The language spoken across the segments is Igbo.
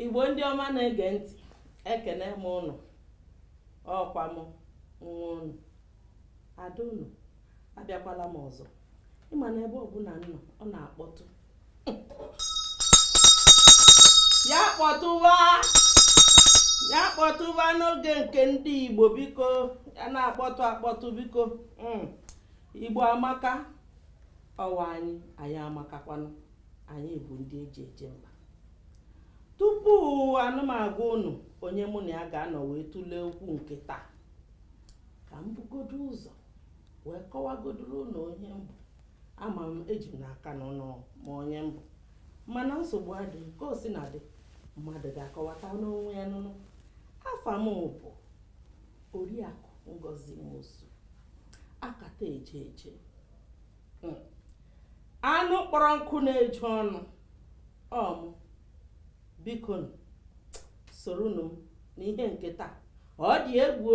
igbo ndị ọma na-ege ntị ekene m ụnụ ọ kwa m nwa ụnụ ada ụnụ abịakwala m ọzọ ị ma na ebe ọbụla m nọ ọ na-akpọtụ ya kpọtụwa ya kpọtụwa n'oge nke ndị igbo biko ya na-akpọtụ akpọtụ biko hmm. igbo amaka ọ wụ anyị anyị amakakwanụ anyị bụ ndị e ji eje mba tupu na m agwa unu onye mụ na ya ga-anọ wee tụlee okwu nke taa ka m bugodo ụzọ wee kọwagodoro ụnụ onye m bụ ama m eji m n'aka na ụnụ ma onye m bụ mana nsogbu adịghị ka o sina dị mmadụ ga-akọwata n'onwe ya nye ụnụ afa m bụ oriakụ ngozi nwosu akata eje eje hmm. anụ kpọrọ nkụ na-eju ọnụ ọ mụ biko soronụ m n'ihe nke taa ọ dị egwu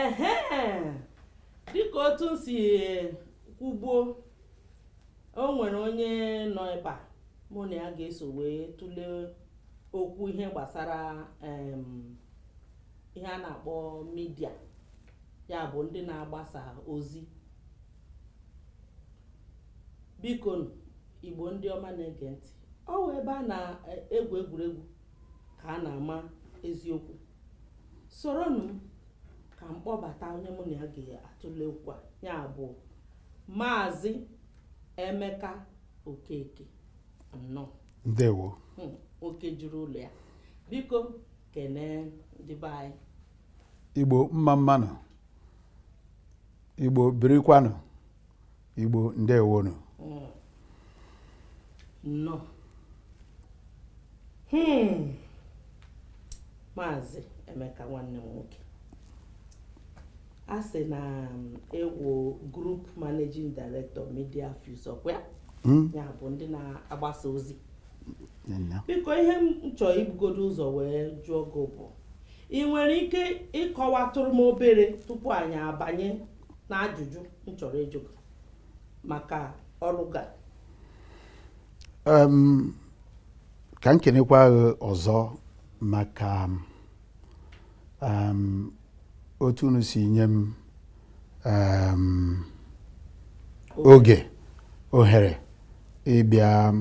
ehe dịka otu m si kwubuo o nwere onye nọ ebe a mụ na ya ga-eso wee tụlee okwu ihe gbasara ihe a na-akpọ midia ya bụ ndị na-agbasa ozi biko igbo ndị ọma na-ege ntị ọ wụ ebe a na-egwu egwuregwu ka a na-ama eziokwu soronụ m ka m kpọbata onye mụ na ya ga-atụle okwu a ya bụ maazị emeka okeke nnọọ ndewo Hmm, oke juru ụlọ ya biko kenee ndị be anyị igbo mma mmanụ igbo birikwanụ Igbo ndewonu hmm. nnọọ hmm. maazị Emeka nwanne m nwoke a sị na um, ị wụ group managing director media fuse ọ kwa ya hmm? bụ ndị na-agbasa ozi biko ihe m chọrọ ibugodo ụzọ wee jụọ gị bụ ị nwere ike ịkọwatụrụ m obere tupu anyị abanye na ajụjụ m chọrọ ịjụ gị maka ọrụ gị Em, ka m kenekwa gị ọzọ maka em, otu unu si nye m em, oge ohere ịbịa em,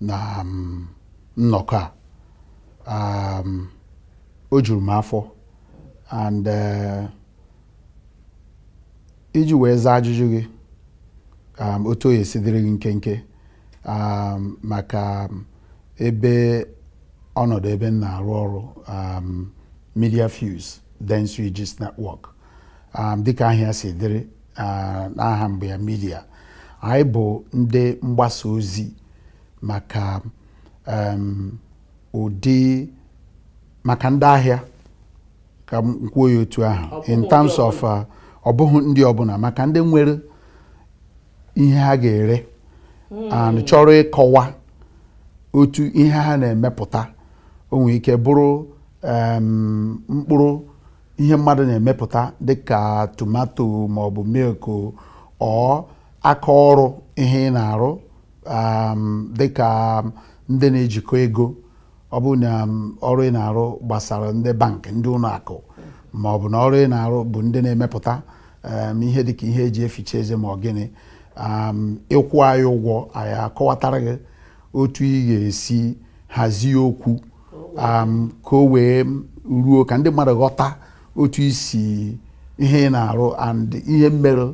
na em, nnọkọ a Em, o juru m afọ and eh, iji wee zaa ajụjụ gị um, otu ọ ga-esi dịrị gị nkenke um, maka um, ebe ọnọdụ ebe m na-arụ ọrụ Media Fuse Dentsu Aegis Network dịka aha ya si dịrị uh, n'aha mbụ ya Media anyị bụ ndị mgbasa ozi maka ụdị maka ndị ahịa ka m kwuo ya otu ahụ Ọ bụghị in ndị terms of uh, ọ bụghị ndị ọbụla maka ndị nwere ihe ha ga-ere and chọrọ ịkọwa otu ihe ha na-emepụta o nwere ike bụrụ em, mkpụrụ ihe mmadụ na-emepụta dịka tomato maọbụ milk or aka ọrụ ihe ị na-arụ em, dịka ndị na-ejikọ ego ọ bụ na um, ọrụ ị na-arụ gbasara ndị bankị ndị ụlọ akụ ma ọ bụ na ọrụ ị na-arụ bụ ndị na-emepụta um, ihe dịka ihe eji eficha eze ma ọ gịnị um, ị kwụọ anyị ụgwọ anyị akọwatara gị otu ị ga-esi hazie okwu ka o wee ruo ka ndị mmadụ ghọta otu isi ihe ị na-arụ and ihe mere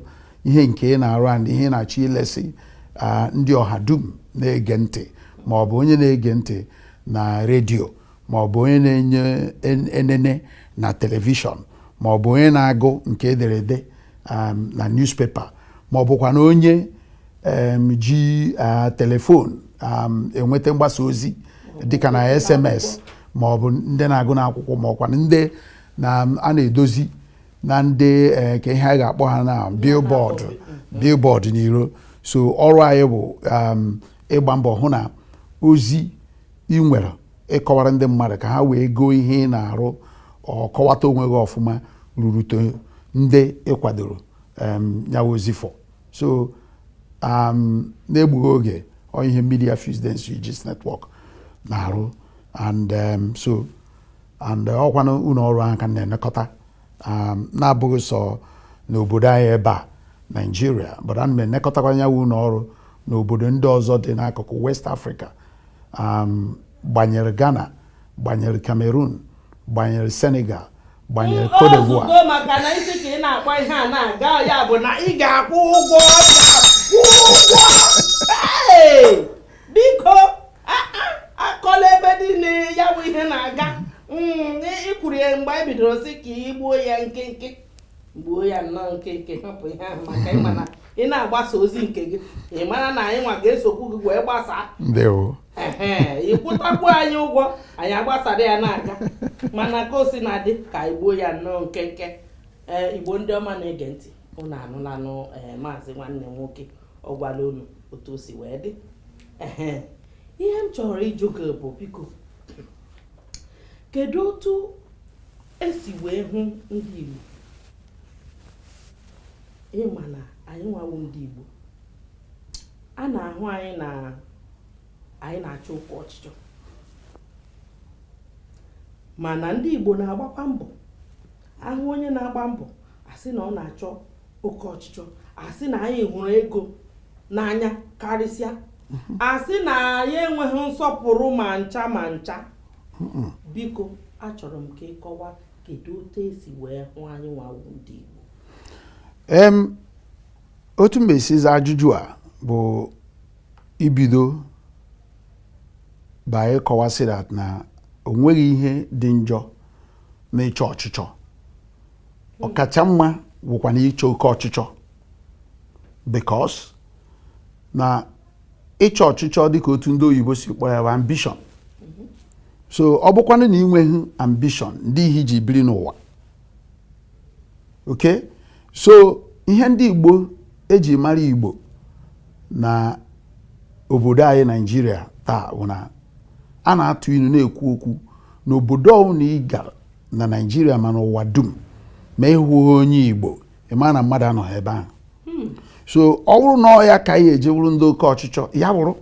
ihe nke ị na-arụ and ihe ị na-achọ ilesi ah, ndị ọha dum na-ege ntị ma ọ bụ onye na-ege ntị na redio ma ọ bụ onye na-enye en- enene na telivishọn ma ọ bụ onye na-agụ nke ederede um, na newspaper ma ọ bụkwa na onye um, ji ah, telefon um, enweta mgbasa ozi dịka na sms ma ọ bụ ndị na-agụ n'akwụkwọ ma ọkwa ndị na a na-edozi na ndị eh, kee ihe a ga-akpọ ha na billboard mm. billboard n'iro so ọrụ anyị bụ um, ịgba mbọ hụ na ozi ị nwere ịkọwara ndị mmadụ ka ha wee goo ihe ị na-arụ ọ kọwata onwe gị ọfụma rurute ndị ị kwadoro um, nyawa ozi for so um, n'egbughị oge ọ ihe Media Fuse Dentsu Aegis Network na-arụ and so and uh, ọkwa na ụlọ ọrụ ahụ ka m na-elekọta um, na-abụghị sọ n'obodo anyị ebe a naijiria but ana m elekọtakwa ya wụ ụlọ ọrụ n'obodo ndị ọzọ dị n'akụkụ west africa um, gbanyere ghana gbanyere cameroon gbanyere senegal gbanyere cote d'ivoire maka na ị sị ka ị na-akpọ ihe a na-aga ya bụ na ị ga-akwụ ụgwọ biko akọla ebe niile ya bụ ihe na-aga mm, i kwuru ya mgbe anyị bidoro sị ka i gbuo ya nkenke gbuo ya nnọọ nkenke hapụ ihe ahụ maka ị ma na ị na-agbasa ozi nke gị ị mara na anyị nwa ga-esokwu gị wee gbasaa ị kwụtakwu anyị ụgwọ anyị agbasara ya na-aga mana ka o sina dị ka anyị gbuo ya nnọọ nkenke ee igbo ndị ọma na-ege ntị unu anụlanụ ee maazị nwanne nwoke ọ gwala unu otu o si wee dị ihe m chọrọ ịjụ gị bụ biko kedu otu e si wee hụ ndị Igbo ị ma na anyị nwa wụ ndị Igbo a na-ahụ anyị na anyị na-achọ oke ọchịchọ mana ndị Igbo na-agbakwa mbọ a hụ onye na-agba mbọ a sị na ọ na-achọ oke ọchịchọ a sị na anyị hụrụ ego n'anya karịsịa a sị na anyị enweghị nsọpụrụ ma ncha ma ncha biko achọrọ m ka ị kọwa kedu otu e si wee hụ anyị nwa wụ ndị Igbo em otu m ga-esi zaa ajụjụ a bụ ibido by ịkọwa sị that na o nweghị ihe dị njọ na ịchọ ọchịchọ ọkacha mma wụkwa na ịchọ oke ọchịchọ because na ịchọ ọchịchọ dịka otu ndị oyibo si kpọọ ya bụ ambition so ọ bụkwanụ na i nweghị ambition ndị ihe i ji biri n'ụwa okay so ihe ndị Igbo e ji mara Igbo na obodo anyị Naijiria taa bụ na a na-atụ ilu na-ekwu okwu na obodo ọbụla ị gara na Naijiria ma n'ụwa dum ma ị hụghị onye Igbo ị ma na mmadụ anọghị ebe ahụ hmm. so ọ bụrụ na ọ ya ka anyị eji wụrụ ndị oke ọchịchọ ya wụrụ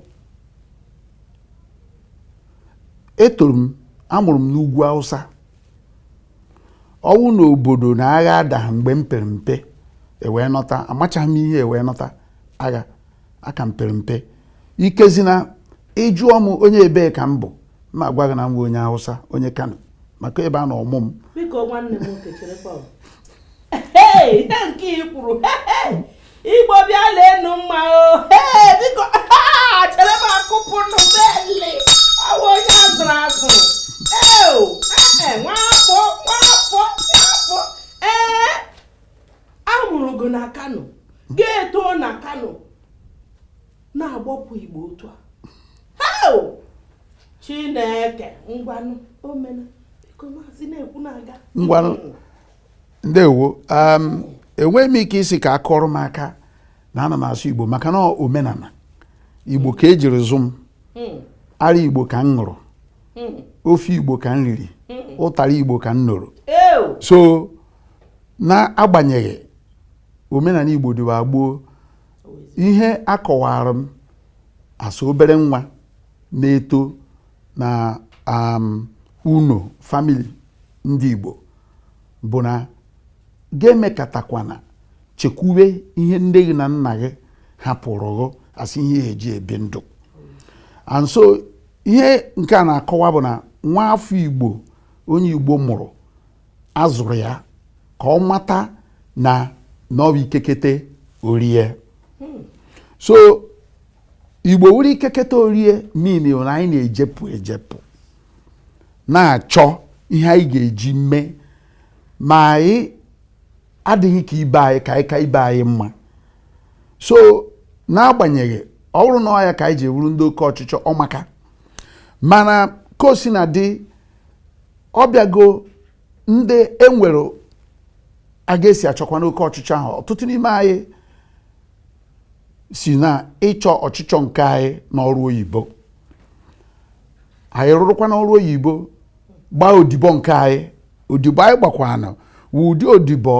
etoro m a mụrụ m n'ugwu Hausa ọ wụ na obodo na agha adaghị mgbe m pere mpe e wee nọta amachaghị m ihe e wee nọta agha aka m pere mpe ikezi na ị jụọ m onye ebee ka m bụ mụ agwa gị na m wụ onye Hausa onye Kano maka ebe a nọ mụọ m igbo bịa leenụ mma o biko chere m akụpụ nụ beli awụ onye azụrụ azụ eo ee nwafọ nwafọ nwafọ ee a mụrụ gị na kano gị etoo na kano na-agbapụ igbo otu a eo chineke ngwanụ omena biko maazị na-ekwu na-aga ngwanụ ndewo um, enweghị m ike ịsị ka a kụọrọ m aka na ana m asụ igbo maka na omenala igbo ka ejiri zụ m hmm. ara igbo ka m ṅụrụ hmm. ofe igbo ka m riri hmm. ụtara igbo ka m noro so n'agbanyeghị omenala igbo dịwa gboo ihe a kọwara m as obere nwa na-eto na um, ụnọ family ndị igbo bụ na gị emekatakwana chekwube ihe nne gị na nna gị hapụrụ gị as ihe eji ebi ndụ and so ihe nke a na-akọwa bụ na nwa afọ igbo onye igbo mụrụ a zụrụ ya ka ọ mata na na ọ bụ ike kete orie so igbo wụrụ ike kete orie meaning na anyị na-ejepụ ejepụ na-achọ ihe anyị ga-eji mee ma anyị adịghị ka ibe anyị ka anyị ka ibe anyị mma so n'agbanyeghị ọ bụrụ na ọ ya ka anyị ji wụrụ ndị oke ọchịchọ ọ maka mana ka o si na dị ọbịago ndị enwere aga esi achọkwanụ oke ọchịchọ ahụ ọtụtụ n'ime anyị si na ịchọ ọchịchọ nke anyị n'ọrụ oyibo anyị rụrụkwanụ ọrụ oyibo gbaa odibo nke anyị odibo anyị gbakwanụ wụ ụdị odibo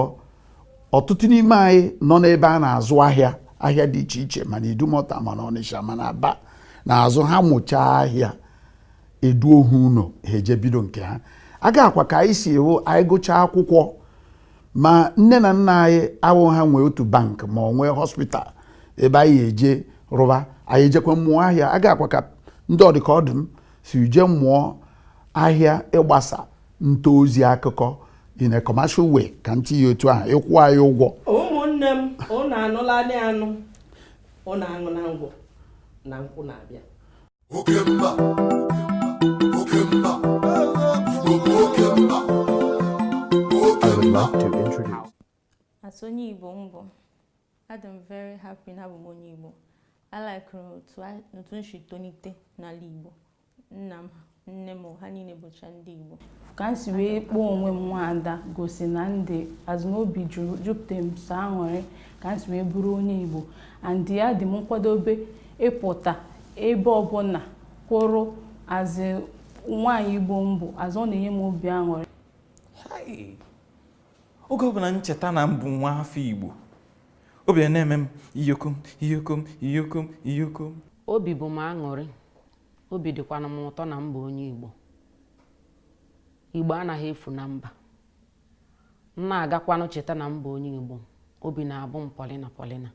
ọtụtụ n'ime anyị nọ n'ebe a na-azụ ahịa ahịa dị iche iche ma n'idumọta ma n'ọnịsha ma n'aba na-azụ ha mụchaa ahịa e duo ha ụlọ ha eje bido nke ha aga a kwa ka anyị si hụ anyị gụchaa akwụkwọ ma nne na nna anyị awụ ha nwe otu bank ma ọ nwe hospital ebe anyị eje rụba anyị ejekwa mụọ ahịa aga a kwa ka ndị ọ dị ka ọ dị m si je mụọ ahịa ịgbasa nta ozi akụkọ in a commercial way ka m tinye ya otu ahụ ịkwụ anyị ụgwọ ụmụnne m ụnụ anụla anụ ụnụ aṅụna ngwọ na nkwụ na-abịa oke mba oke mba igbo bụ oke mba oke I would mba love to introduce. As onye Igbo m bụ, adị m very happy na abụ m onye Igbo. I like otu a- otu m si tolite n'ala Igbo. Nna m, nne m, ha niile bụcha ndị Igbo. ka m si wee kpọọ onwe m nwaada gosi na m dị as in obi juru jupụta m sọ aṅụrị ka m si wee bụrụ onye igbo and adị m nkwadobe ịpụta ebe ọbụla kwụrụ as in nwaanyị igbo m bụ as in ọ na-enye m obi aṅụrị oge ọbụla m cheta na m bụ nwa afọ igbo obi na-eme m iyokom iyokom iyokom iyokom obi bụ m aṅụrị obi dịkwana m ụtọ na m bụ onye igbo igbo anaghị efu na mba m na-agakwanụ cheta na m bụ onye Igbo obi na-abụ m pọlịna pọlịna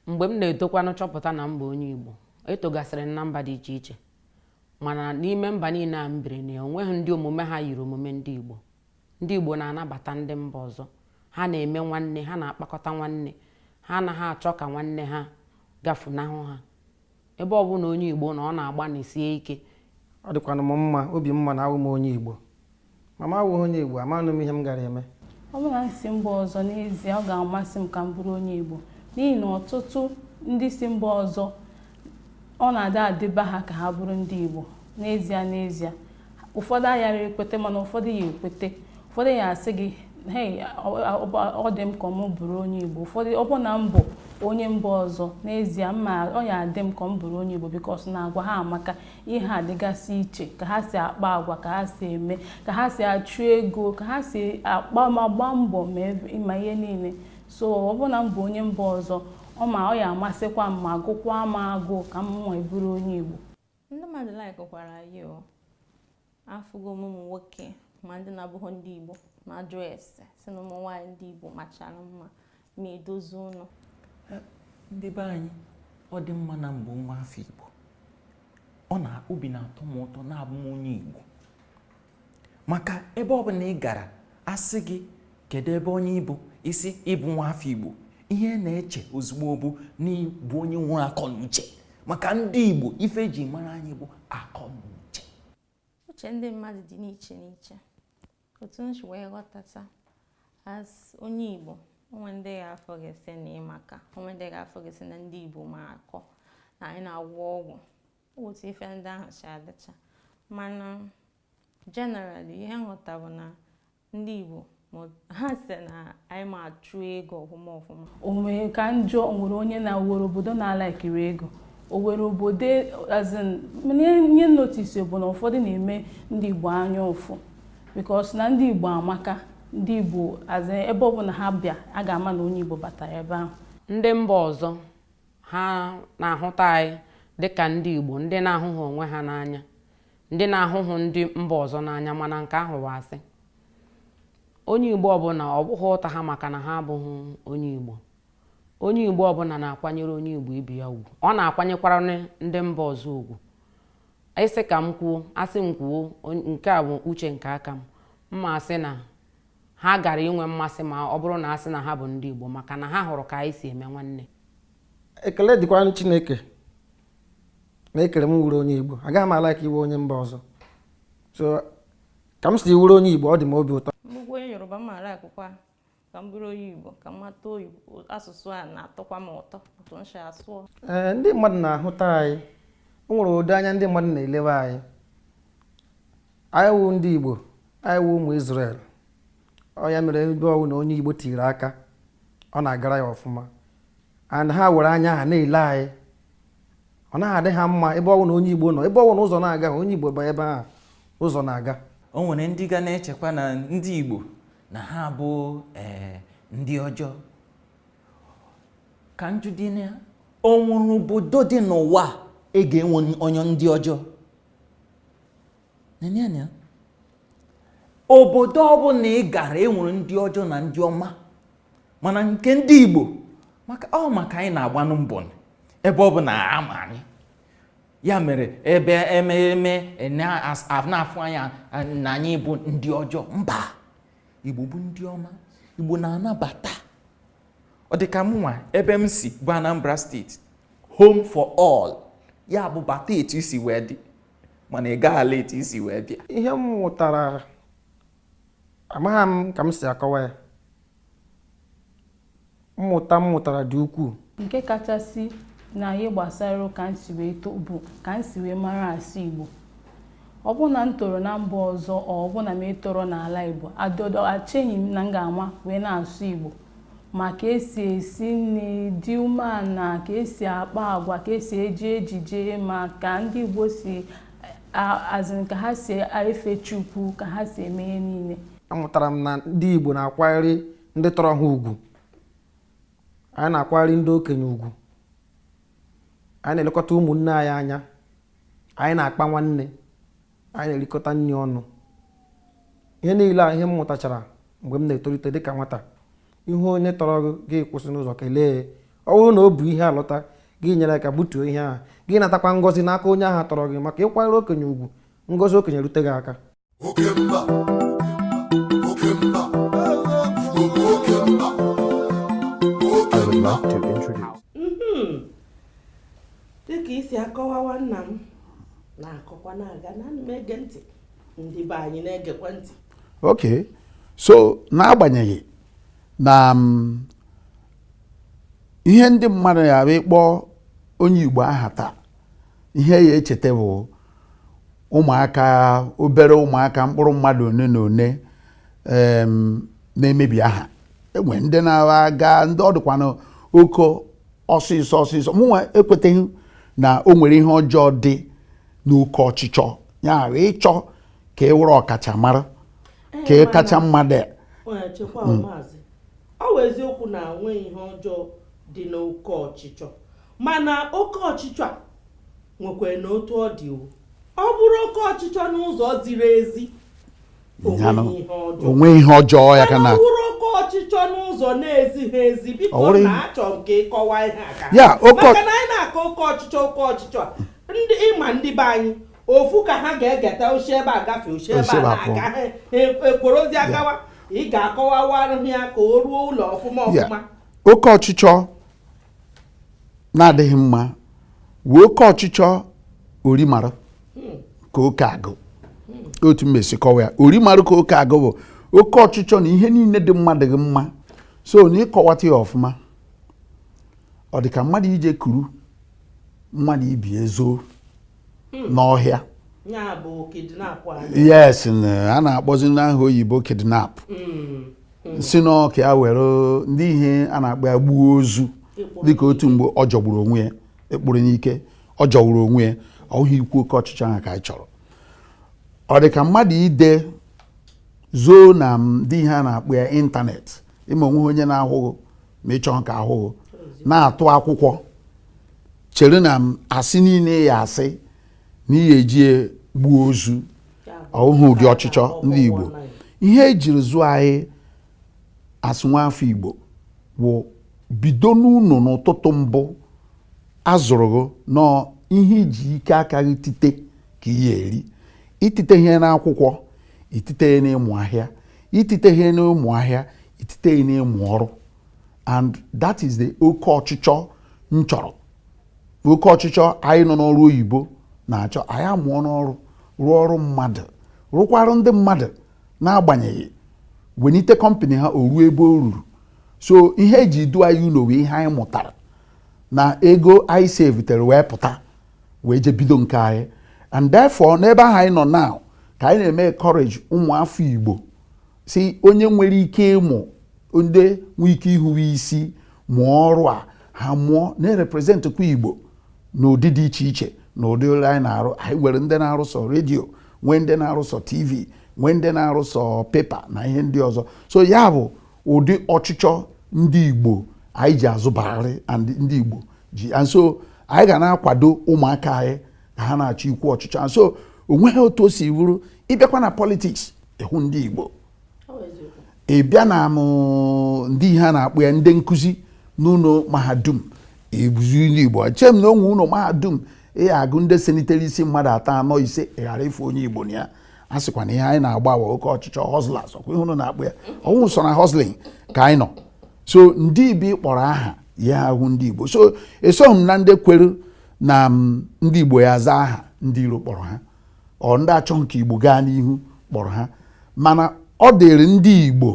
mgbe m na-etokwanụ chọpụta na m bụ onye Igbo etogasịrị m na mba dị iche iche mana n'ime mba niile a m biri na ya o nweghị ndị omume ha yiri omume ndị Igbo ndị Igbo na-anabata ndị mba ọzọ ha na-eme nwanne ha na-akpakọta nwanne ha anaghị achọ ka nwanne ha gafunahụ ha ebe ọ bụla onye Igbo nọ ọ na-agbanisie ike ọ dịkwanụ m mma obi mma na awụ m onye Igbo ma m awụghị onye Igbo amanụ m ihe m gara eme ọ bụrụ na m si mba ọzọ n'ezie ọ ga-amasị m ka m bụrụ onye Igbo n'ihi na ọtụtụ ndị si mba ọzọ ọ na-adị adịba ha ka ha bụrụ ndị Igbo n'ezie n'ezie ụfọdụ ayarọ ekweta mana ụfọdụ ya ekweta ụfọdụ ya asị gị hei ọ dị m ka m bụrụ onye igbo ụfọdụ ọ bụ na m bụ onye mba ọzọ n'ezie mma ọ ya adị m ka m bụrụ onye igbo because na agwa ha amaka ihe ha dịgasị iche ka ha si akpa agwa ka ha si eme ka ha si achụ ego ka ha si agba mbọ ma ihe niile so ọ bụ na m bụ onye mba ọzọ ọ ma ọ ya amasịkwa m ma gụkwa m agụụ ka m nwa bụrụ onye igbo Ndị mmadụ likekwara anyị o. Afụgo m ụmụ nwoke ma ndị na-abụghọ ndị Igbo na-ajụ ese sị na ụmụ nwaanyị ndị Igbo machara mma ma edozi ụlọ. Ndị be anyị, ọ dị mma na m bụ nwa afọ Igbo. Ọ na obi na-atọ m ụtọ na abụ m onye Igbo. maka ebe ọ bụla ị gara a sị gị kedu ebe onye ị bụ ị sị ị bụ nwa afọ igbo ihe a na-eche ozugbo bụ na ị bụ onye nwere akọ na uche maka ndị igbo ife e ji mara anyị bụ akọ na uche uche ndị mmadụ dị n'iche n'iche otu m si wee ghọtata as onye igbo o nwe ndị ga-afụ gị asị na ị maka o nwe ndị ga-afụ gị asị na ndị igbo ma akọ na anyị na-agwọ ọgwụ otu ife ndị ahụ si adịcha mana generally ihe m ghọta bụ na ndị Igbo ha sị na anyị ma achụ ego ọfụma ọfụma o nwere ka m jụọ o nwere onye na o nwere obodo na-alikerọ ego o nwere obodo as in ihe m notice bụ na ụfọdụ na-eme ndị Igbo anya ụfụ because na ndị Igbo amaka ndị Igbo ebe ọbụla ha bịa a ga-ama na onye Igbo batara ebe ahụ ndị mba ọzọ ha na-ahụta anyị dịka ndị Igbo ndị na-ahụghị onwe ha n'anya ndị na-ahụhụ ndị mba ọzọ n'anya mana nke ahụ bụ asị onye Igbo ọbụla ọ bụghị ụta ha maka na ha abụghị onye Igbo onye Igbo ọbụla na-akwanyere onye Igbo ibe ya ugwu ọ na-akwanyekwara ndị mba ọzọ ugwu ị sị ka m kwuo a sị m kwuo nke a bụ uche nke aka m m ma asị na ha gara inwe mmasị ma ọ bụrụ na a sị na ha bụ ndị Igbo maka na ha hụrụ ka anyị si eme nwanne ekele dịkwara chineke na e kere m wụrụ onye igbo agaghị m alike ịwụ onye mba ọzọ so ka m si wụrụ onye igbo ọ dị m obi ụtọ nnukwu onye yoruba m maara akwụkwọ a ka m bụrụ onye igbo ka m mata asụsụ a na-atọkwa m ụtọ otu m si asụ ee ndị mmadụ na-ahụta anyị o nwere ụdị anya ndị mmadụ na-elewe anyị anyị wụ ndị igbo anyị wụ ụmụ Israel ọ ya mere ebe ọwụna onye igbo tiri aka ọ na-agara ya ọfụma and ha were anya ha na-ele anyị ọ naghị adị ha mma ebe ọwụna onye igbo nọ ebe ọwụna ụzọ na-aga onye igbo banye ebe ahụ ụzọ na-aga o nwere ndị ga na-echekwa na ndị igbo na ha bụ eh, ndị ọjọọ ka m jụọdị na o nwere obodo dị n'ụwa e ga-enwe onye ndị ọjọọ Neenụ anya obodo ọbụla ị gara e nwere ndị ọjọọ na ndị ọma mana nke ndị Igbo maka ọ maka anyị na-agbanụ mbọ ebe ọbụna a ma anyị ya mere ebe ememe na-afụ anyị na anyị bụ ndị ọjọọ mba Igbo bụ ndị ọma Igbo na-anabata ọ dị ka mụnwa ebe m si bụ Anambra State home for all ya bụ bata etu i si wee dị mana ị gaghị ala etu i si wee bịa ihe m mụtara amaghị m ka m si akọwa ya mmụta m mụtara dị ukwuu nke kachasị na ihe gbasara ka m si wee too bụ ka m si wee mara asụ Igbo ọ bụrụ na m toro na mba ọzọ ọ bụrụ na m etorọ n'ala Igbo I don't echeghị m na m ga-ama wee na-asụ Igbo ma ka esi esi nri dị umeala ka esi akpa agwa ka esi eji ejije ma ka ndị Igbo si as in ka ha si efe Chukwu ka ha si eme ihe niile amụtara m na ndị Igbo na-akwanyere ndị tọrọ ha ugwu anyị na-akwanyere ndị okenye ugwu anyị na-elekọta ụmụnne anyị anya anyị na-akpa nwanne anyị na-erikọta nri ọnụ ihe niile a ihe m mụtachara mgbe m na-etolite dịka nwata ị hụ onye tọrọ gị gị akwụsị n'ụzọ kelee ọ bụrụ na o bu ihe alọta gị enyere aka butuo ihe ahụ gị anatakwa ngọzi n'aka onye ahụ tọrọ gị maka ịkwanyere okenye ugwu ngọzi okenye rute gị aka dịka i si akọwawa nna m na-akọkwa na-aga na m na-ege ntị ndị be anyị na-egekwa ntị ok so n'agbanyeghị na mm, ihe ndị mmadụ ya bụ ịkpọ onye Igbo aha taa ihe ị ya-echeta bụ ụmụaka obere ụmụaka mkpụrụ mmadụ one na one na-emebi aha e nwere ndị na-aga ndị ọ dịkwanụ oko ọsịsọ ọsịsọ mụnwa ekweteghị na o nwere ihe ọjọọ dị n'oke ọchịchọ ya ghara ịchọ ka ị bụrụ ọkachamara ka ị kacha mmadụ ya hmm. ọ bụ eziokwu na o nweghị ihe ọjọọ dị n'oke ọchịchọ mana oke ọchịchọ a nwekwaranụ otu ọ dị ọ bụrụ oke ọchịchọ n'ụzọ ziri ezi o nweghị ihe ọjọọ ọ bụrụ oke ọchịchọ n'ụzọ na-ezighị ezi biko achọ m ka ị kọwaa ihe a ka maka na anyị na-akọ oke ọchịchọ oke ọchịchọ ndị ịma ndị be anyị ofu ka ha ga-egeta ozi ebe a gafee ozi ebe a na-aga ha ekworo ozi agawa ị ga-akọwawara ha ya ka o ruo ụlọ ọfụma ọfụma oke ọchịchọ na-adịghị mma wụ oke ọchịchọ orimara ka oke agụ otu m esi kọwa ya orimara ka oke agụ bụ oke ọchịchọ na ihe niile dị mma adịghị mma so na ịkọwata ya ọfụma ọ dị ka mmadụ ije kuru mmadụ ibe ya zoo hmm. n'ọhịa yes a na-akpọzi n'aha oyibo kidnap hmm. Hmm. si n'aka ya were ndị ihe a na-akpọ ya gbuo ozu dịka otu mgbe ọ jọgburu onwe ya ịkpụrụ n'ike ọ jọgburu onwe ya ọ bụghị ikwu oke ọchịchọ ahụ ka anyị chọrọ ọ dị ka mmadụ ije zoo na ndị ihe a na-akpọ ya ịntanetị ịma o nweghị onye na-ahụ gị ma ị chọghị ka a hụ gị na-atụ akwụkwọ chere na m asị niile ya asị na ihe eji gbuo ozu ọ wụ ụdị ọchịchọ ndị Igbo ihe ejiri zụọ anyị as nwa afọ Igbo wụ bido n'ụlọ n'ụtụtụ mbụ azụrụ gị na ọ ihe iji ike aka gị tite ka ị ya-eri itite ihe n'akwụkwọ itite ya n'ịmụ ahịa itite ihe n'ịmụ ahịa itite ya n'ịmụ ọrụ and that is the oke ọchịchọ m chọrọ oke ọchịchọ anyị nọ n'ọrụ oyibo na-achọ anyị amụọ n'ọrụ rụọ ọrụ mmadụ rụkwara ndị mmadụ n'agbanyeghị wenite company ha o ruo ebe o ruru so ihe eji du anyị ụlọ wee ihe anyị mụtara na ego anyị sevitere wee pụta wee je bido nke anyị and therefore n'ebe ahụ anyị nọ now ka anyị na-eme encourage ụmụ afọ Igbo so onye nwere ike ịmụ ndị nwee ike ihuwe isi mụọ ọrụ a ha mụọ na-representkwa igbo n'ụdị dị iche iche na ụdị ọrụ anyị na-arụ anyị nwere ndị na-arụ sọ radio nwee ndị na-arụ sọ tv nwee ndị na-arụ sọ paper na ihe ndị ọzọ so ya bụ ụdị ọchịchọ ndị igbo anyị ji azụbarị ndị igbo ji and so anyị ga na-akwado ụmụaka anyị ka ha na-achọkwu ọchịchọ and so onweghị otu o si wụrụ ị bịakwa na politics ị hụ ndị Igbo ị bịa na mm ndị ihe a na-akpọ ya ndị nkụzi n'ụlọ mahadum ị hụzi ndị Igbo eche m na o nwee ụlọ mahadum ị ya-agụ ndị senitere isi mmadụ atọ anọ ise ị ghara ịfụ onye Igbo na ya a sịkwa na ihe anyị na-agba a wụ oke ọchịchọ hustlers ọkwa ihe ụnụ na-akpọ ya ọ wụ sọ na hustling ka anyị nọ so ndị ibi kpọrọ aha ị ya-ahụ ndị Igbo so esoghị m na ndị kwere na mm, ndị Igbo ya-aza aha ndị iro kpọrọ ha ọ ndị achọghị ka igbo gaa n'ihu kpọrọ ha mana ọ dịịrị ndị igbo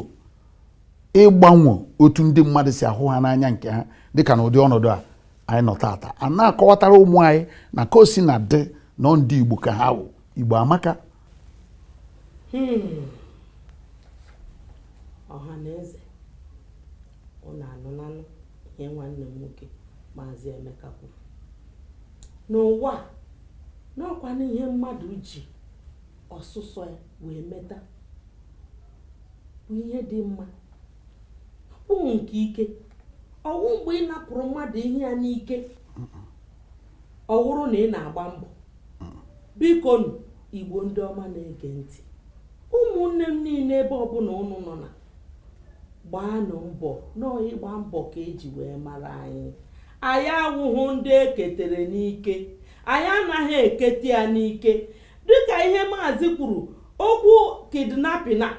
ịgbanwe otu ndị mmadụ si ahụ ha n'anya nke ha dịka na ụdị ọnọdụ a anyị nọ tata a na-akọwatara ụmụ anyị na ka o sina dị na ọ ndị igbo ka ha wụ igbo amaka hmm. ọha na eze ụnụ anụlanụ ihe nwanne m nwoke maazị Emeka kwuru n'ụwa a na ọkwanụ ihe mmadụ ji ọsụsọ ya wee meta bụ ihe dị mma ụmụ nke ike ọwụ mgbe ị napụrụ mmadụ ihe ya n'ike ọwụrụ na ị na-agba mbọ bikonụ igbo ndị ọma na-ege ntị ụmụnne m niile ebe ọbụla ụnụ nọ na gbaanụ mbọ na ọ ịgba mbọ ka eji wee mara anyị anyị awụhụ ndị eketere n'ike anyị anaghị ekete ya n'ike dịka ihe maazị kwuru okwu kidnapping a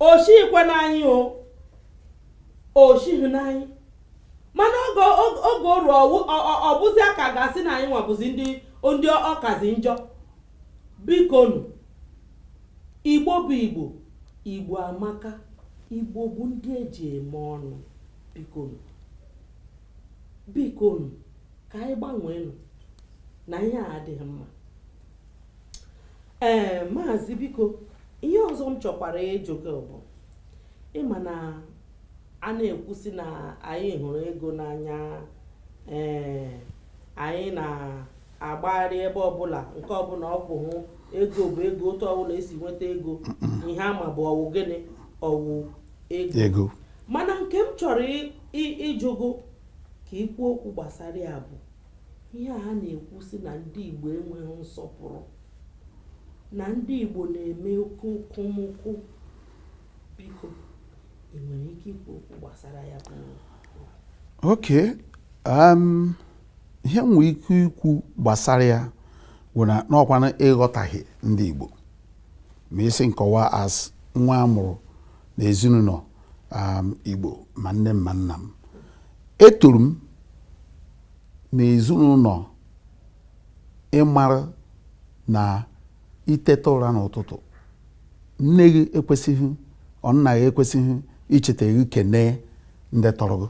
o shikwe n'anyị o o shighị n'anyị mana oge oge oru ọ bụzia ka a ga-asị na anyịnwa bụzi ndị ndị ọ kazi njọ Bikonu, Igbo bụ Igbo, Igbo amaka, Igbo bụ ndị eji eme ọnụ. Bikonu, bikonu, ka anyị gbanweenụ na ihe a adịghị mma. Ee, maazị biko, ihe ọzọ m chọkwara ịjụ gị bụ ị ma na a na-ekwu sị na anyị hụrụ ego n'anya ee anyị na agbagharị ebe ọbụla nke ọbụla ọ bụ hụ ego bụ ego otu ọbụla esi nweta ego ihe a ma bụ ọ wụ gịnị ọ wụ ego mana nke m chọrọ ịjụ gị ka i kwuo okwu gbasara ya bụ ihe a na-ekwu sị na ndị Igbo enweghị nsọpụrụ na ndị Igbo na-eme oke okomoko Biko, ị nwere ike ikwu okwu gbasara ya bụ okay um, ihe m nwere ike ikwu gbasara ya bụ na n'ọkwanụ ịghọtaghị ndị Igbo ma ị sị m kọwaa as nwa a mụrụ na ezinụlọ um, Igbo ma nne m ma nna m etoro m na ezinụlọ ị mara na i teta ụra n'ụtụtụ nne gị ekwesịghị or nna gị ekwesịghị icheta gị kenee ndị tọrọ gị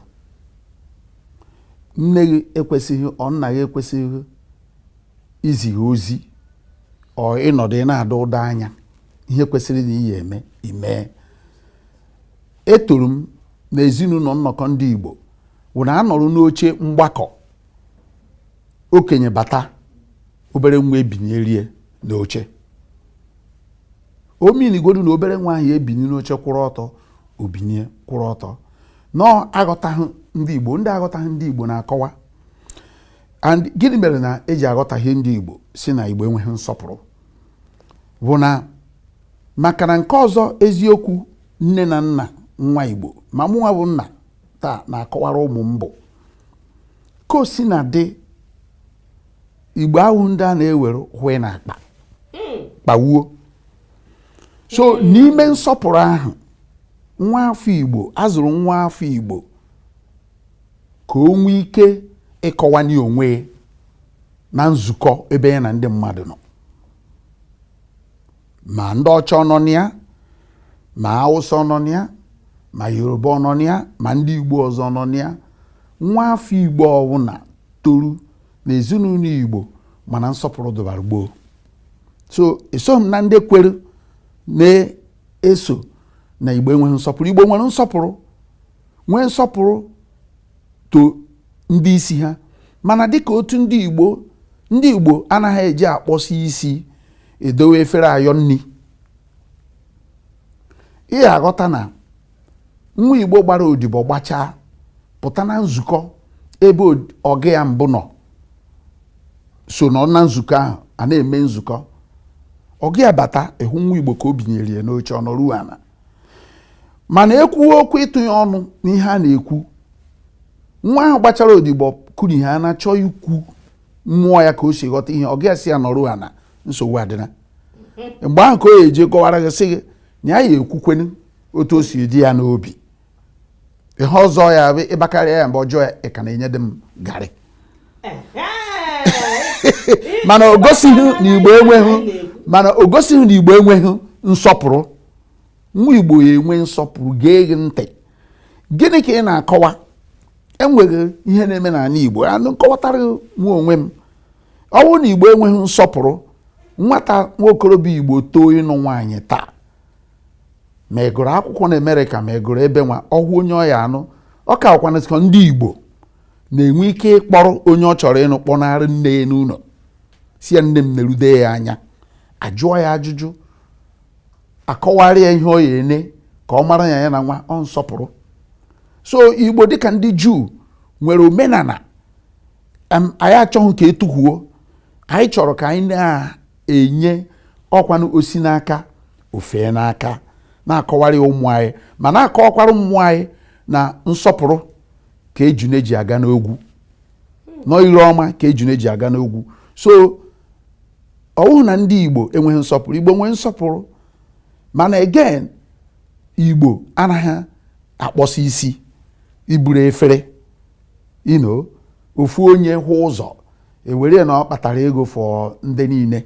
nne gị ekwesịghị or nna gị ekwesịghị izi gị ozi or ị nọdụ ị na-ada ụda anya ihe kwesịrị na iyi eme i mee etoro m na ezinụlọ nnọkọ ndị Igbo wụ na a nọrọ n'oche mgbakọ okenye bata obere nwa ebinyere ya n'oche o meanigodu na obere nwa ahụ ebinye n'oche kwụrụ ọtọ o binye kwụrụ ọtọ na aghọtaghị ndị Igbo ndị aghọtaghị ndị Igbo na-akọwa and gịnị mere na eji aghọtaghị ndị Igbo sị na Igbo enweghị nsọpụrụ bụ na maka na nke ọzọ eziokwu nne na nna nwa Igbo ma mụnwa bụ nna taa na-akọwara ụmụ m bụ ka o si na ndị igbo ahụ ndị a na-ewere hwe na akpa kpawuo so n'ime nsọpụrụ ahụ nwa afọ igbo a zụrụ nwa afọ igbo ka o nwee ike ịkọwanye onwe na nzukọ ebe ya na ndị mmadụ nọ ma ndị ọcha ọ nọ na ya ma awụsa ọ nọ na ya ma yoruba ọ nọ na ya ma ndị igbo ọzọ nọ na ya nwa afọ igbo ọwụna toru na ezinụlọ igbo ma na nsọpụrụ dịbara gboo so esoghị m na ndị kwere na-asị na igbo enweghị nsọpụrụ igbo nwere nsọpụrụ nwee nsọpụrụ to ndị isi ha mana dịka otu ndị Igbo ndị Igbo anaghị eji akpọsi isi edowe efere ayọ nri ị ya-aghọta na nwa Igbo gbara odibo gbachaa pụta na nzukọ ebe ọga ya mbụ nọ so nọ na nzukọ ahụ a na-eme nzukọ ọga ya bata ị hụ nwa Igbo ka o binyere ya n'oche ọ nọrọ ana mana e kwuwe okwu ịtụnye ọnụ n'ihe a na-ekwu nwa ahụ gbachara odibo kuru ihe a na-achọ ikwu mmụọ ya ka o si ghọta ihe ọga ya sị ya nọrọ ana nsogbu adịla mgbe ahụ ka ọ ya-eji kọwara gị sị gị na ya ya-ekwukwanụ otu o si dị ya n'obi ihe ọzọ ya bụ ị bakarịa ya mba ọ jụọ ya ị ka na-enyedị m garị mana o gosighị na igbo enweghị nsọpụrụ nwa igbo ya-enwe nsọpụrụ gee gị ntị gịnị ka ị na-akọwa enweghị ihe na-eme n'ala igbo anụ nkọwatara nwa onwe m ọ bụrụ na igbo enweghị nsọpụrụ nwata nwa okorobịa igbo too ịnụ nwaanyị taa ma ị gụrụ akwụkwọ na Amerịka ma ị gụrụ ebe nwa ọ hụ onye ọ ya-anụ ọ ka wụkwanụ ndị Igbo na-enwe ike ịkpọrọ onye ọ chọrọ ịnụ kpọnara nne ya n'ụlọ sị ya nne m nerude ya anya a jụọ ya ajụjụ a kọwara ya ihe ọ ya-ene ka ọ mara ya ya na nwa ọ nsọpụrụ so Igbo dịka ndị Juu nwere omenala anyị achọghị ka e tufuo anyị chọrọ ka anyị na enye ọkwanụ o si n'aka o fee n'aka na-akọwara ya ụmụ anyị ma na-akọwakwara ụmụ anyị na nsọpụrụ ka ejune ji aga n'ogwu na ire ọma ka ejune ji aga n'ogwu so ọ wụghị na ndị igbo enweghị nsọpụrụ igbo nwere nsọpụrụ mana again igbo anaghị akpọsi isi iburu efere ino ofu onye hụ ụzọ e were na ọ kpatara ego for ndị niile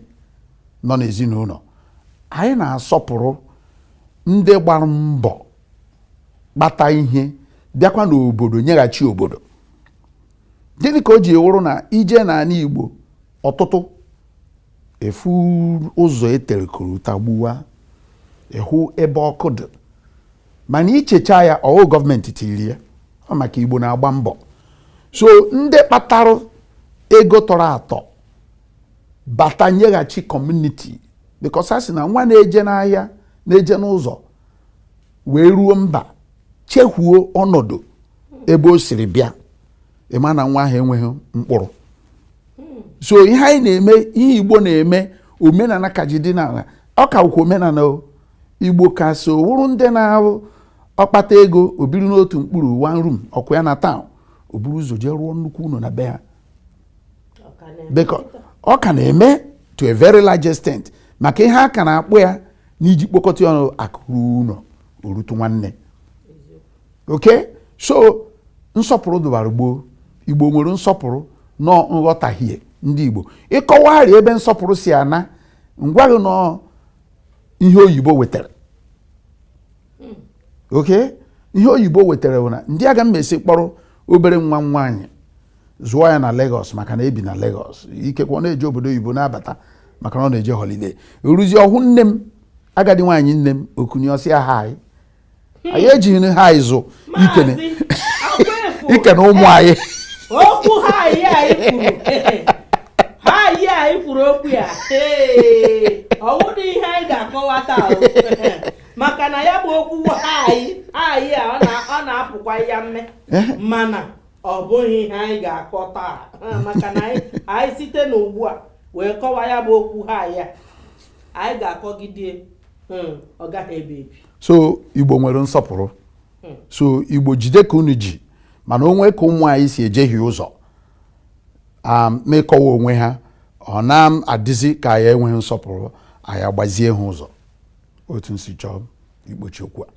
nọ n'ezinụlọ anyị na-asọpụrụ ndị gbara mbọ kpata ihe bịakwa n'obodo nyeghachi obodo gịnị ka o ji wụrụ na ị je n'ala Igbo ọtụtụ ị fụ ụzọ e tere korota gbuwa ị hụ ebe ọkụ dị mana ichecha ya ọ wụ gọọmenti tiri ya ọ bụ maka igbo na-agba mbọ so ndị kpatara ego tọrọ atọ bata nyeghachi community because a sị na nwa na-eje n'ahịa na-eje n'ụzọ wee ruo mba chefuo ọnọdụ ebe o siri bịa ị ma na nwa ahụ enweghị mkpụrụ so ihe anyị na-eme ihe igbo na-eme omenala ka ji dị n'ala ọ ka omenala o igbo ka so wụrụ ndị na-awụ ọ kpata ego o biri n'otu mkpụrụ one room ọkụ ya na town o buru ụzọ jee rụọ nnukwu ụlọ na be ha ọ ka na-eme to a very large extent maka ihe a ka na-akpọ ya n'iji kpọkọta ọnụ akụ ruo ụlọ o rutu nwanne okay so nsọpụrụ dụbara gboo igbo nwere nsọpụrụ nọ nghọtahie ndị igbo ịkọwagharị ebe nsọpụrụ si ana m agwa gị nọ ihe oyibo wetara hmm. okay ihe oyibo wetara bụ na ndị aga m esi kpọrọ obere nwa m nwaanyị zụọ ya na Lagos maka na ebi na Lagos ikekwe ọ na-eje obodo oyibo na-abata maka na ọ na-eje holiday e ruzie ọ hụ nne m agadi nwaanyị nne m o kunie ọ sị ya hi anyị ejighị hi zụ ikene ikene ụmụ anyị okwu hi anyị kwuru hi anyị kwuru okwu ya ọ wụdịghị ihe anyị ga-akọwa taa maka na ya bụ okwu hi hi a ọ na-apụkwa ya mme eh? mana ọ bụghị ihe anyị ga-akọ taa maka na anyị site n'ugbu a wee kọwa ya bụ okwu hi a anyị ga-akọgide hmm, ọ gaghị ebi ebi so igbo nwere nsọpụrụ hmm. so igbo jide ka unu ji mana o nwe ka ụmụ anyị si ejehie ụzọ um, n'ịkọwa onwe ha ọ na-adịzi ka anyị enweghị nsọpụrụ anyị agbazie ha ụzọ otu m si chọọ ịkpọchi okwu a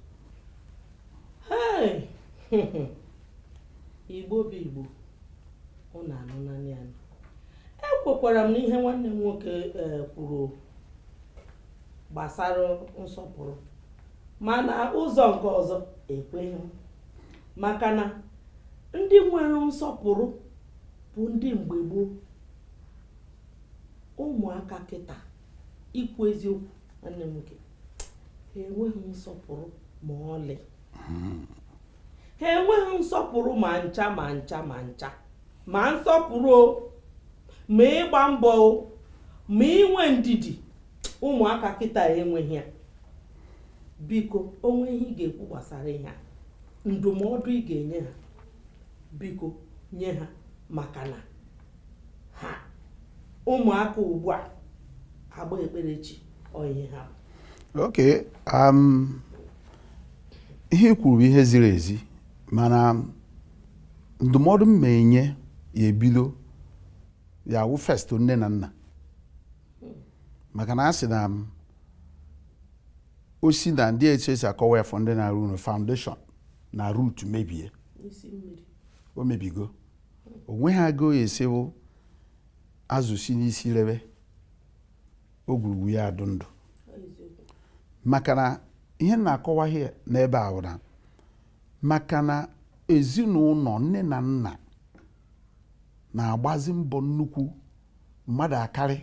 igbo bụ igbo ọ na-anụ naanị anụ ekwekwara m n'ihe nwanne m nwoke eh, kwuru gbasara nsọpụrụ mana ụzọ nke ọzọ ekweghị m maka na ndị nwere nsọpụrụ bụ ndị mgbe gboo ụmụaka kịta ikwu eziokwu nwanne m nwoke ha enweghị nsọpụrụ ma ọlị ha enweghị nsọpụrụ ma ncha ma ncha ma ncha ma nsọpụrụ o ma ịgba mbọ o ma inwe ndidi ụmụaka kịta enweghị ya biko o nwee ihe ị ga-ekwu gbasara ihe a ndụmọdụ ị ga-enye ha biko nye ha maka na ha ụmụaka ugbu a agba ekpere chi onwe ha ok um, ihe i kwuru bụ ihe ziri ezi mana ndụmọdụ m na-enye ya ebido ya wụ first nne na nna maka na a sị na osi na ndị etu esi akọwa ya for ndị na-arụ ụlọ foundation na root mebie o mebigo o nweghị aga ọ ya-esi wụ azụ si n'isi rebe ogwurugwu ya adụ ndụ maka na ihe na-akọwa ihe n'ebe a wụ na maka na ezinụlọ nne na nna na-agbazi mbọ nnukwu mmadụ akarị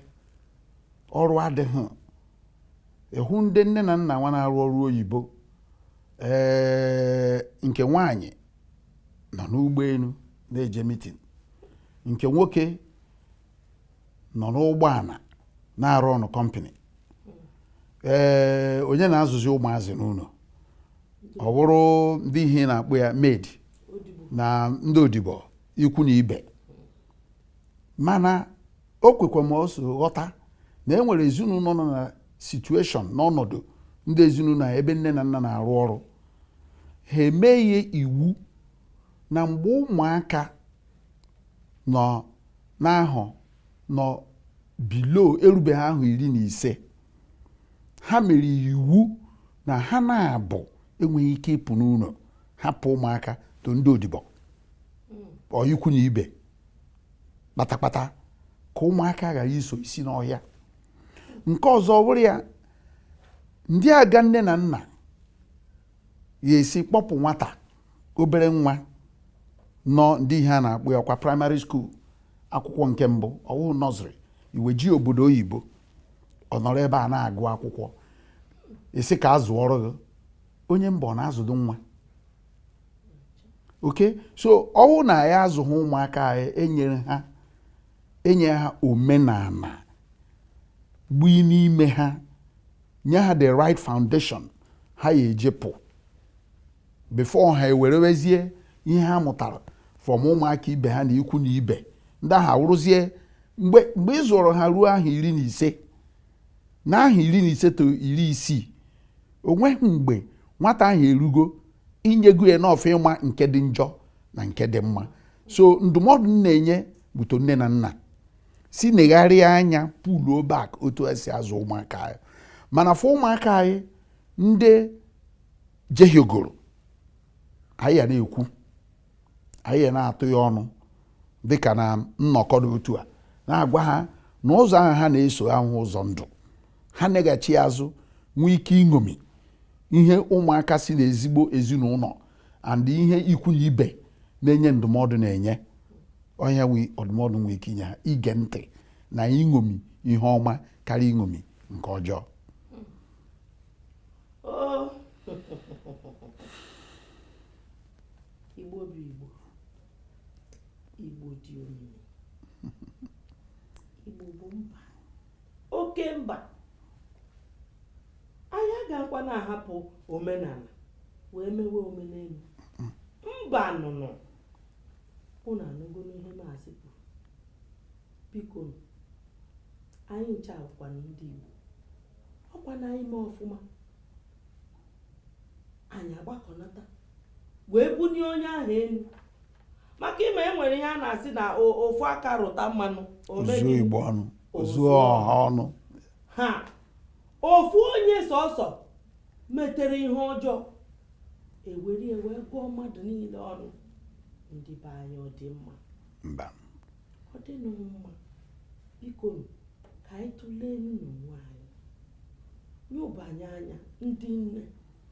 ọrụ adịghị ị hụ ndị nne na nna nwa na-arụ ọrụ oyibo ee nke nwanyị nọ n'ụgbọelu na-eje meeting nke nwoke nọ n'ụgbọala na-arụ na company ee onye na-azụzi ụmụazị n'ụlọ ọ bụrụ ndị ihe a na-akpọ ya maid na ndị odibo ikwu na ibe mana o kwekwa m ọsọ ghọta na e nwere ezinụlọ nọ na situation n'ọnọdụ ndị ezinụlọ ebe nne na nna na-arụ ọrụ ha emee iwu na mgbe ụmụaka nọ n'ahọ nọ below erubeghị ahọ iri na ise ha mere iwu na ha naabọ enweghị ike ịpụ n'ụlọ hapụ ụmụaka to ndị odibo or ikwu na ibe kpatakpata ka ụmụaka ghara iso isi n'ọhịa nke ọzọ bụrụ ya ndị aga nne na nna ya esi kpọpụ nwata obere nwa nọ ndị ihe a na-akpọ ya kwa primary school akwụkwọ nke mbụ ọ wụ nursery iweje obodo oyibo ọ nọrọ ebe a na-agụ akwụkwọ ị sị ka a zụọrọ gị onye mba ọ na-azụdo nwa ok so ọ wụ na ya azụghị ụmụaka anyị enyere ha enye ha omenala gbui n'ime ha nye ha the right foundation ha ya-eji pụ before ha ewerewezie ihe ha mụtara from ụmụaka ibe ha na ikwu na ibe ndị ahụ awụrụzie mgbe mgbe ị zụrụ ha ruo ahọ iri na ise na ahọ iri na ise to iri isii onweghị mgbe nwata ahụ erugo i nyego ya enough ịma nke dị njọ na nke dị mma so ndụmọdụ m na-enye both nne na nna sị negharịa anya puluo back otu e si azụ ụmụaka anyị mana fụ ụmụaka anyị ndị jehiogoro anyị ya na-ekwu anyị ya na-atụ ya ọnụ dịka na nnọkọ dị otu a na-agwa ha na ụzọ ahụ ha na-eso awụghị ụzọ ndụ ha neghachi azụ nwee ike iṅomi ihe ụmụaka si na ezigbo ezinụlọ and ihe ikwu na ibe na-enye ndụmọdụ na-enye onye nwe ọdụmọdụ nwee ike inye ha ige ntị na iṅomi ihe ọma karịa iṅomi nke ọjọọ igbo bụ igbo igbo dị omimi igbo bụ mba oke mba anyị agakwa na-ahapụ omenala wee mewe omenelu mba nụnụ unu anụgonu ihe maazị kwuru biko anyị ncha bụkwanụ ndị Igbo ọ kwa na anyị mee ọfụma anyị agbakọnata wee bunye onye ahụ elu maka ị ma e nwere ihe a na-asị na ofu aka rụta mmanụ o zuo Igbo ọnụ o zuo ọha ọnụ ha ofu onye sọsọ metere ihe ọjọọ e were wee gụọ mmadụ niile ọnụ ndị be anyị ọ dị mma ọ dịnụ mma bikonu ka anyị tụlee nụnwa anyị nebanye anya ndị nne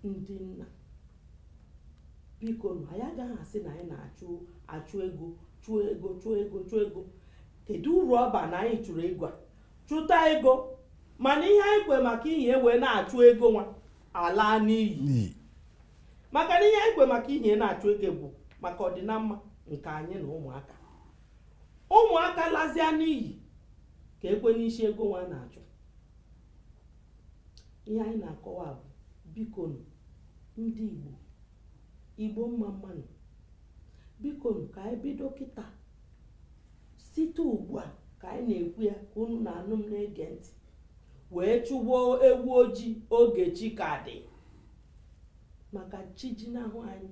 ndị nna bikonu anyị agaghị asị na anyị na-achụ achụ ego chụọ ego chụọ ego chụọ ego kedu uru ọ ba na anyị chụrụ ego a chụta ego mana ihe anyị kwe maka ihe wee na-achụ ego nwa ala n'iyi maka na ihe anyị kwe maka ihe na-achụ ego bụ maka ọdịnamma nke anyị na ụmụaka ụmụaka lazia n'iyi kee kwanụ isi ego nwa na-achụ ihe anyị na-akọwa bụ bikonu ndị Igbo Igbo mmamma nụ bikonu ka anyị bido kịta site ugbu a ka anyị na-ekwu ya ka unu na-anụ m na-ege ntị wee chụba ewu ojii oge chi ka dị maka chi jinahụ anyị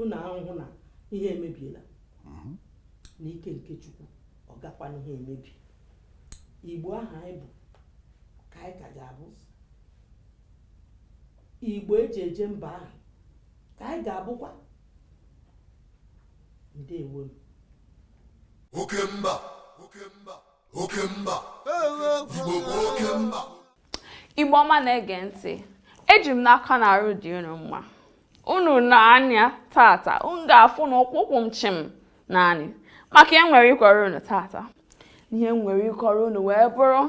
unu ahụhụ na ihe emebiela mhm. n'ike nke chukwu ọ gakwanụghị emebi igbo ahụ anyị bụ ka anyị ka ga-abụ igbo eji eje mba ahụ ka anyị ga-abụkwa ndewo m oke mba oke mba oke mba igbo bụ oke mba igbo ọma na-ege ntị eji m n'aka na arụ dị unu mma unu nee anya tata unu ga-afụ na ụkwụ kwụ m chịm naanị maka ihe nwere ịkọrọ unu tata ihe nwere ịkọrọ unu wee bụrụ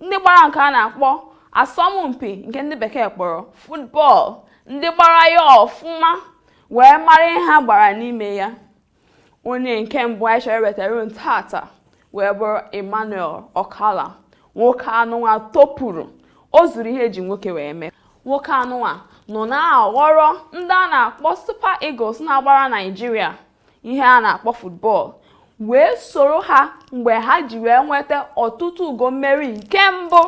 ndị gbara nke a na-akpọ asọmpi nke ndị bekee kpọrọ futbọl ndị gbara ya ọfụma wee mara ihe ha gbara n'ime ya onye nke mbụ anyị chọrọ iwetara unu tata wee bụrụ Emmanuel Okala nwoke anụnwa topụrụ o zuru ihe eji nwoke wee mee nwoke anụnwa nọ na-aghọrọ ndị a na-akpọ Super Eagles na-agbara Naịjirịa ihe a na-akpọ football wee soro ha mgbe ha ji wee nweta ọtụtụ ugo mmeri nke mbụ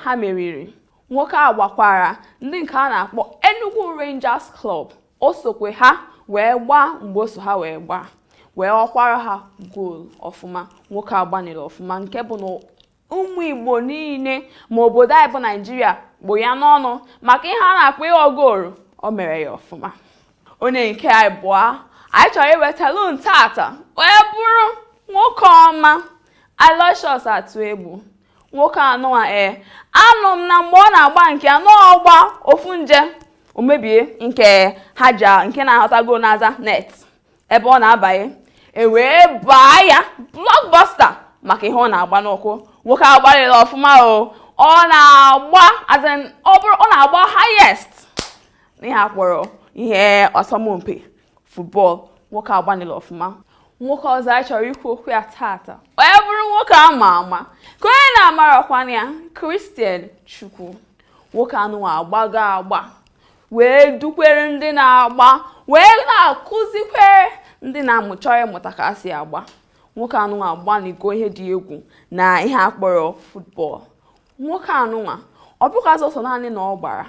ha meriri nwoke a gbakwara ndị nke a na-akpọ Enugu Rangers Club o sokwe ha wee gbaa mgbe o so ha wee gbaa wee ghọkwara ha goolu ọfụma nwoke agbalịla ọfụma nke bụ na ụmụ igbo niile ma obodo anyị bụ naijiria kpụ ya n'ọnụ maka ihe a na-akpọ ịghọ goolu o mere ya ọfụma onye nke ịbụa anyị chọrọ iwetalu unu tata wee bụrụ nwoke ọma Aloysius Atuegbu nwoke anụwa ee eh, anụ m na mgbe ọ na-agba nke anụ ọ gbaa ofu nje o mebie nke ha ji nke na-ahọta gol n'azụ net ebe ọ na-abanye e wee baa ya blockbuster maka ihe ọ na-agba n'ụkwụ nwoke agbalịla ọfụma o ọ na-agba ọ bụrụ ọ na-agba highest n'ihe a kpọrọ ihe asọmpi football nwoke agbalịla ọfụma nwoke ọzọ anyị chọrọ ikwu okwu ya tata wee bụrụ nwoke a ma ama kee onye na-amarọkwanụ ya Christian Chukwu nwoke anụwa agbago agba wee dukwere ndị na-agba wee na-akụzikwere ndị na-amụ chọrọ ịmụta ka a si agba nwoke anụnwa agbanịgo ihe dị egwu na ihe a kpọrọ futbọl nwoke anụnwa ọ bụghị sọsọ naanị na ọ gbara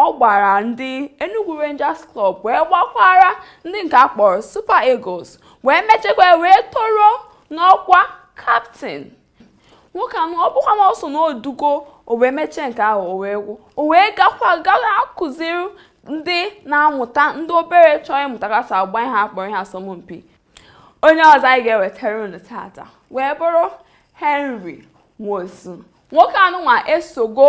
ọ gbara ndị Enugu Rangers Club wee gbakwara ndị nke a kpọrọ Super Eagles wee mechekwa wee toro n'ọkwa kaptịn nwoke anụ ọ bụkwa na o so n'odugo o wee mechaa nke ahụ o wee gwụ o wee gakwa gara akụziri ndị na-amụta ndị obere chọrọ ịmụta ka esi agba ihe akpọrọ ihe asọmpi onye ọzọ anyị ga-ewetara unu tata wee bụrụ Henry Nwosu nwoke anụnwa esogo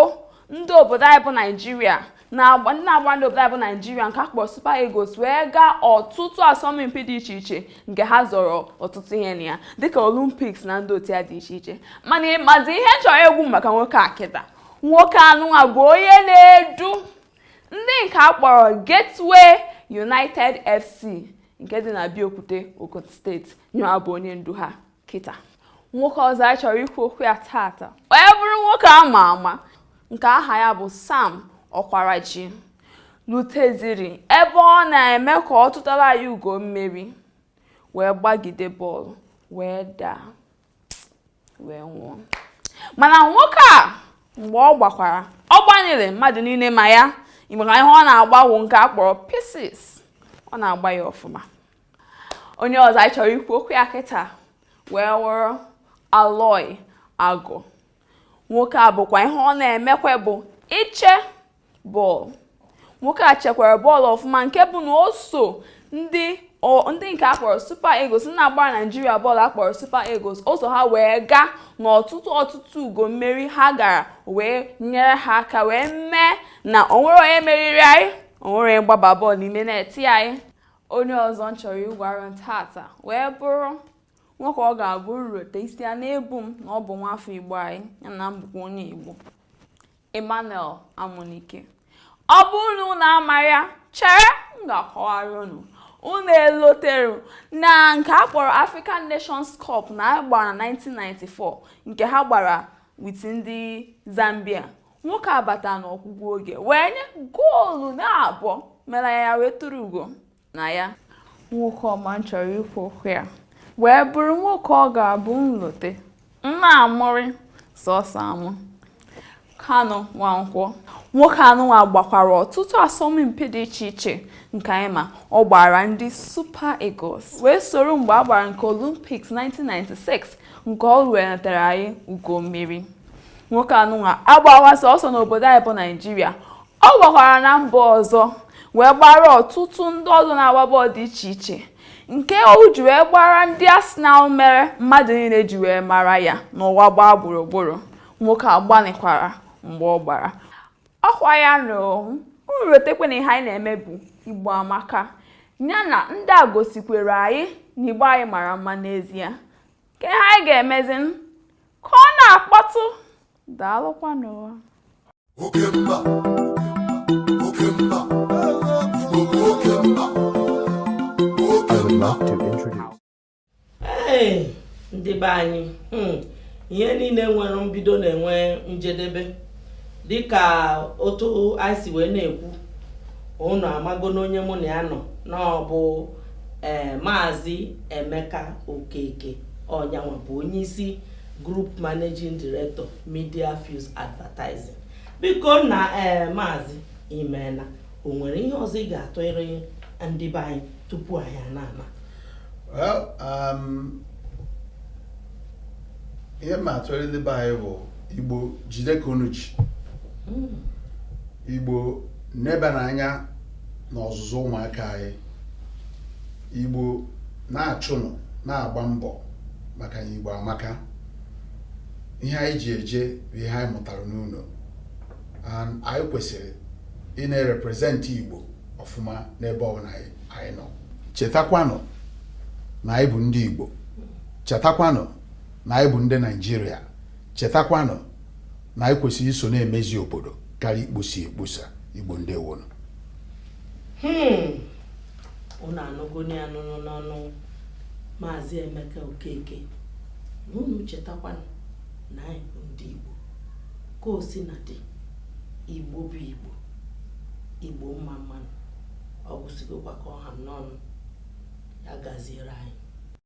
ndị obodo anyị bụ Naijiria na ndị na-agbara ndị obodo anyị bụ naijiria nke akpọrọ Super Eagles wee gaa ọtụtụ asọmpi dị iche iche nke ha zọrọ ọtụtụ ihe na ya dịka Olympics na ndị otu ya dị iche iche mana ịmazi ihe m chọrọ ikwu maka nwoke a kịta nwoke anụnwa bụ onye na-edu ndị nke akpọrọ Gateway United FC nke dị na Abeokuta Ogun steeti ya nwa bụ onye ndu ha kịta nwoke ọzọ anyị chọrọ ikwu okwu ya tata wee bụrụ nwoke a ma ama nke aha ya bụ Sam Okwaraji luteziri ebe ọ na-eme ka ọ tụtara anyị ugo mmeri wee gbagide bọọlụ wee daa wee nwụọ mana nwoke a mgbe ọ gbakwara ọ gbanyere mmadụ niile ma ya maka ihe ọ na-agba wụ nke a kpọrọ pieces ọ na-agba ya ọfụma onye ọzọ anyị chọrọ ikwu okwu ya kịta wee wụrụ Aloy Agụ nwoke a bụkwa ihe ọ na-emekwa bụ iche bọọlụ nwoke a chekwara bọọlụ ọfụma nke bụ na o so ndị ndị nke akpọrọ Super Eagles na-agbara Naijiria bọọlụ akpọrọ Super Eagles o so ha wee gaa n'ọtụtụ ọtụtụ ugo mmeri ha gara wee nyere ha aka wee mee na o nwerọ onye meriri anyị o nwerọ onye gbaba bọọlụ n'ime neeti anyị onye ọzọ m chọrọ ịgwara unu tata wee bụrụ nwoke ọ ga-abụ m rote isi ana-ebu m na ọ bụ nwafọ igbo anyị ya na m bụkwa onye igbo emmanuel amunike ọ bụ unu na amarọ ya chere m ga-akọwara unu unu elotere na nke a kpọrọ african nations cup a gbara na 1994 nke ha gbara with ndị zambia nwoke a bata n'ọgwụgwụ oge wee nye goolu naabọ mere ya wee tụrụ ugo na ya nwoke ọma m chọrọ ikwu okwu ya wee bụrụ nwoke ọ ga-abụ m lote m na-amụrị sọsọ amụ Kanu Nwankwo nwoke anụnwa gbakwara ọtụtụ asọmpi dị iche iche nke anyị ma ọ gbaara ndị Super Eagles wee soro mgbe a gbara nke Olympics 1996 nke ọ wetara anyị ugo mmeri nwoke anụnwa agbarọ sọsọ n'obodo anyị bụ naijiria ọ gbakwara na mba ọzọ wee gbaara ọtụtụ ndị ọzọ na-agba bọọlụ dị iche iche nke o ji wee gbaara ndị Arsenal mere mmadụ niile ji wee mara ya n'ụwa gbaa gburugburu nwoke a gbanịkwara mgbe ọ gbara ọkwa ya na-erotekwa na ihe anyị na-eme bụ Igbo Amaka ya na ndị a gosikwara anyị na Igbo anyị mara mma n'ezie ka ihe anyị ga-emezi ka ọ na-akpọtụ daalụkwa n'ụwa oke mba oke mba igbo oke mba oke mba ndị be anyị hmm, ihe niile nwere mbido na-enwe njedebe dịka otu anyị si wee na-ekwu unu amago n'onye mụ na ya nọ na ọ bụ ee maazị emeka okeke ọ nyanwa bụ onye isi group managing director media fuse advertising biko na ee maazị i meena o nwere ihe ọzọ ị ga-atụrụ ndị be anyị tupu anyị anaa ana Well, um, ihe m ma-atụrụ ndị be anyị bụ igbo jide ka unu ji hmm. igbo nebanụ anya n'ọzụzụ ụmụaka anyị igbo na-achụnụ na-agba mbọ maka na igbo amaka ihe anyị ji eje bụ ihe anyị mụtara n'ụnọ and anyị kwesịrị ị na-erepresent igbo ọfụma n'ebe ọbụla anyị nọ chetakwanụ na anyị bụ ndị igbo chetakwanụ na anyị bụ ndị naijiria chetakwanụ na anyị kwesịrị iso na-emezi obodo karịa ikposa ekposa igbo ndeewonụ unu anụgoni anụnụ n'ọnụ maazị emeka okeke na unu chetakwanụ na anyị bụ ndị igbo ka o si na-adị igbo bụ igbo igbo mma mmanụ ọ gwụsịgokwa ka ọ ha m n'ọnụ ya gaziere anyị